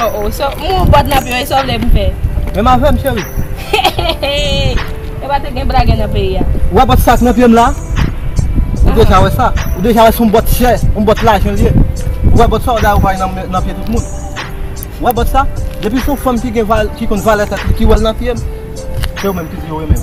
Oh oh so mwen ou bòt nan pi yo e so vle pou fè. Menm avèm cheri. Heheheheh e pa te gen blagè nan peyi a. Ou wè bòt sak nan pyem la? Ou deja wè sa? Ou deja wè son bòt chè, on bòt lajan liye? Ou wè bòt sa ou da ou bay nan pye tout moun? Ou wè bòt sa? Depi son fanm ki gen valè, ki konn valè tèt li ki wèl nan pyem, se ou menm ki di yo renmenm.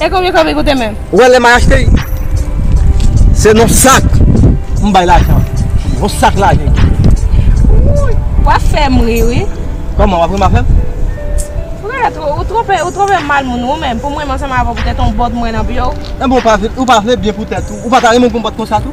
E konbyen kob li koute menm? Ou wè lè mwen achte li se nan sak m bay lajan an. Yon sak lajan li koute. Wap fèm ri wi. Koman wap ri map fèm? Frèt ou twonpe ou twonpe mal moun ou menm pou m renmen ansanm avèw poutèt yon bòt m wè nan pye w. Enben ou pa vle byen pou tèt ou? Ou pa ta renmen m pou m bòt konsa tou?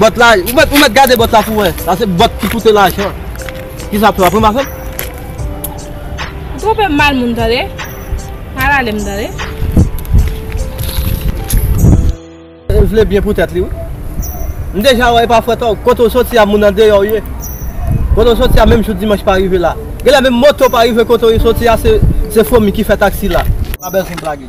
Bòt la, ou mèt ou mèt gade bòt la pou wè. Sa se bòt ki koute lajan. Ki sa ap fè wap ranmase l? Ou twonpe m mal moun tande. Pa rale m tande. L vle byen pou tèt li wi. M deja wè e pa fwèt ankò. Kote w soti a moun andeyò w ye. Kote w soti a menm jou dimanch pa rive la. Genlè menm moto pa rive kote w soti a se fwomi ki fè taksi la. Pa bezwen blage.